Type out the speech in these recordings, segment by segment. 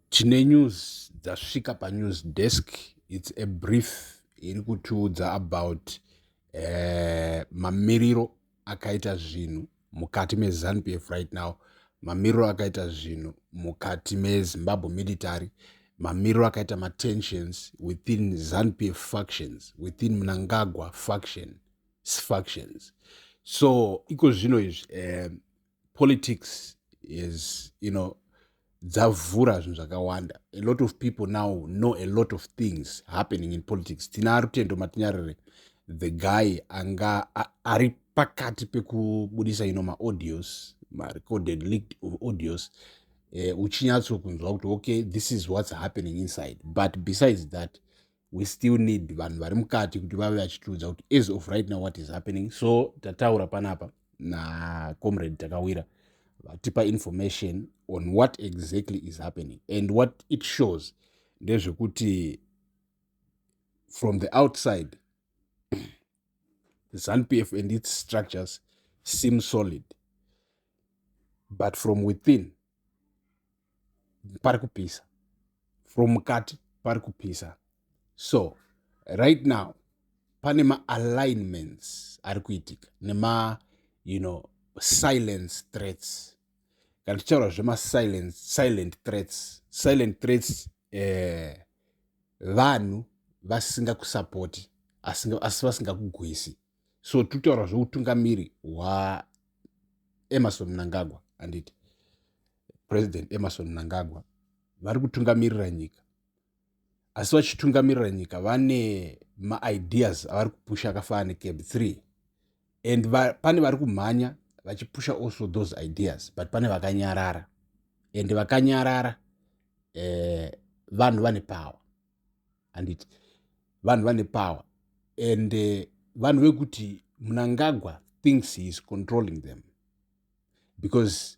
Tine news dzasvika panews desk its a brief iri kutiudza about eh, mamiriro akaita zvinhu mukati meZanu PF right now mamiriro akaita zvinhu mukati mezimbabwe military mamiriro akaita matensions within Zanu PF factions within mnangagwa faction factions so iko zvino izvi eh, politics is you know dzavhura zvinhu zvakawanda a lot of people now know a lot of things happening in politics tina rutendo matinyarire the guy anga ari pakati pekubudisa ino maaudios marecorded leaked of audios uh, uchinyatso kunzwa kuti okay this is what's happening inside but besides that we still need vanhu vari mukati kuti vave vachitiudza kuti as of right now what is happening so tataura panapa nacomrade takawira vatipa information on what exactly is happening and what it shows ndezvekuti from the outside zanupf and its structures seem solid but from within pari kupisa from mukati pari kupisa so right now pane maalignments ari kuitika nema you know silence threats kana tichitaura zvemasilence silent threats silent threats eh, vanhu vasinga kusapoti asi vasingakugwisi so tutaura zveutungamiri hwaemerson mnangagwa handiti president emerson mnangagwa vari kutungamirira nyika asi vachitungamirira nyika vane maideas avari kupusha akafanana necab 3 and va, pane vari kumhanya vachipusha also those ideas but pane vakanyarara and vakanyarara eh, vanhu vane power handiti vanhu vane power and eh, vanhu uh, vekuti munangagwa thinks he is controlling them because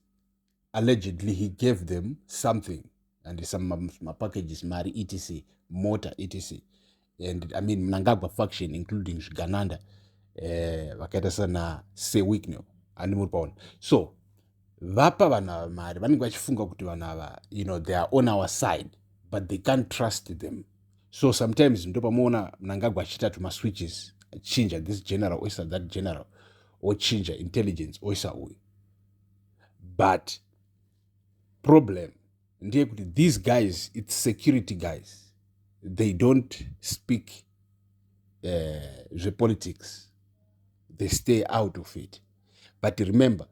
allegedly he gave them something and some mapackages mari etc mota etc and i mean mnangagwa faction including zvigananda eh, vakaita sana sewicknel ani muri paona so vapa vanhu ava mari vanenge vachifunga kuti vanhu ava you know they are on our side but they can't trust them so sometimes ndo pamuona mnangagwa achiita tumaswitches achinja this general oisa that general ochinja intelligence oisa uyu but problem ndeyekuti these guys its security guys they don't speak uh, zvepolitics they stay out of it but remember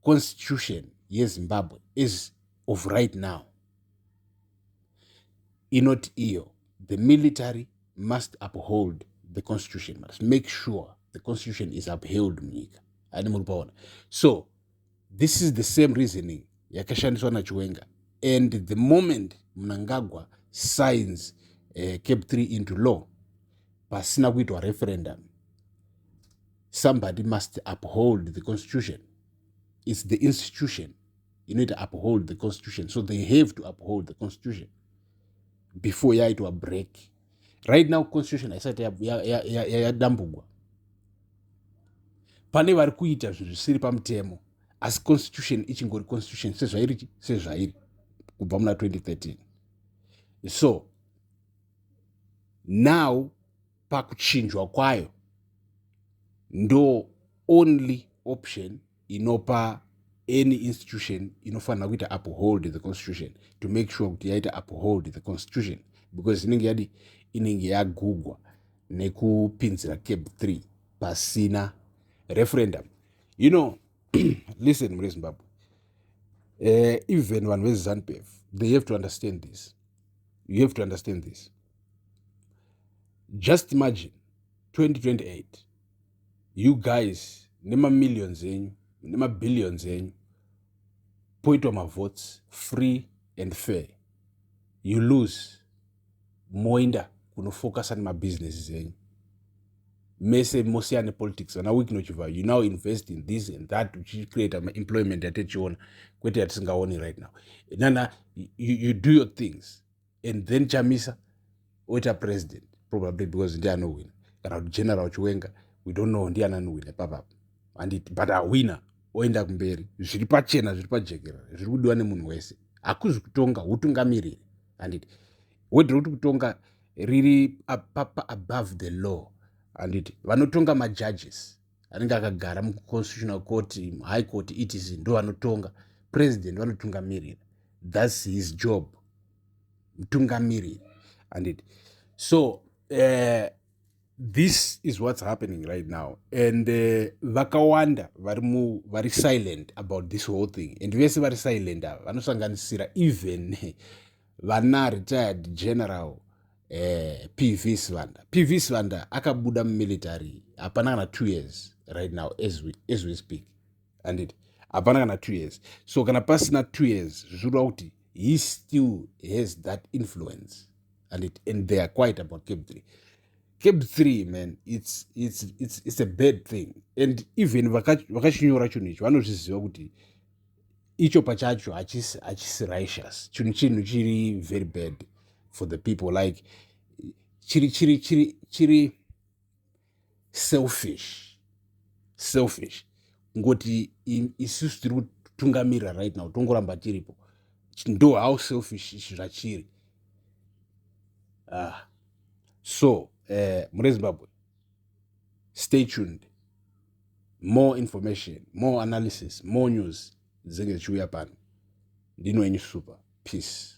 constitution yezimbabwe is of right now inoti iyo the military must uphold the constitution must make sure the constitution is upheld munyika ani muri paona so this is the same reasoning yakashandiswa nachiwenga and the moment mnangagwa signs uh, cap 3 into law pasina kuitwa referendum somebody must uphold the constitution its the institution inoita uphold the constitution so they have to uphold the constitution before yaitwa break right now constitution haisati yadambugwa pane vari kuita zvinhu zvisiri pamutemo asi constitution ichingori constitution sezvairi sezvairi kubva muna 2013 so now pakuchinjwa kwayo ndo only option inopa any institution inofanira kuita uphold the constitution to make sure kuti yaita uphold the constitution because inenge yadi inenge yagugwa nekupinzira cab 3 pasina referendum you know listen mune zimbabwe uh, even vanhu vezanupf they have to understand this you have to understand this just imagine 2028 you guys nemamillions enyu nemabillions enyu poitwa mavotes free and fair you lose moenda kunofocusa nemabhizinesis enyu mese mosiyana nepolitics vana week nochiva you now invest in this and that uchicreata maemployment yatichiona kwete yatisingaoni right now nana you, you do your things and then chamisa oita president probably because ndiye anohwina kana kuti general chiwenga we don't know ndiani anohwina papapo handiti but ahwina oenda kumberi zviri pachena zviri pajekerera zviri kudiwa nemunhu wese hakuzi kutonga utungamiriri handiti wedre kuti kutonga riri papa above the law handiti vanotonga majudges anenge akagara muconstitutional court high court etc ndo vanotonga president vanotungamirira thats his job mutungamiriri andit so uh, this is what's happening right now and eh, vakawanda uh, vari mu vari silent about this whole thing and vese vari silent ava vanosanganisira even vana retired general eh, pv sivanda pv sivanda akabuda mumilitary hapana kana two years right now as we, as we speak anditi hapana kana two years so kana pasina two years zvichireva kuti he still has that influence and it and they are quiet about cape three cape three man it's, it's, it's, it's a bad thing and even vakachinyora chinhu ichi vanozviziva kuti icho pachacho hachisi hachisi righteous chinhu chinhu chiri very bad for the people like chiri chiri chiri chiri selfish selfish ngoti isusu tiri kutungamirira right now tongoramba tiripo ndo how selfish izvi zvachiri ah so eh, mune zimbabwe stay tuned more information more analysis more news dzinenge dzichiuya pano ndino enyu super peace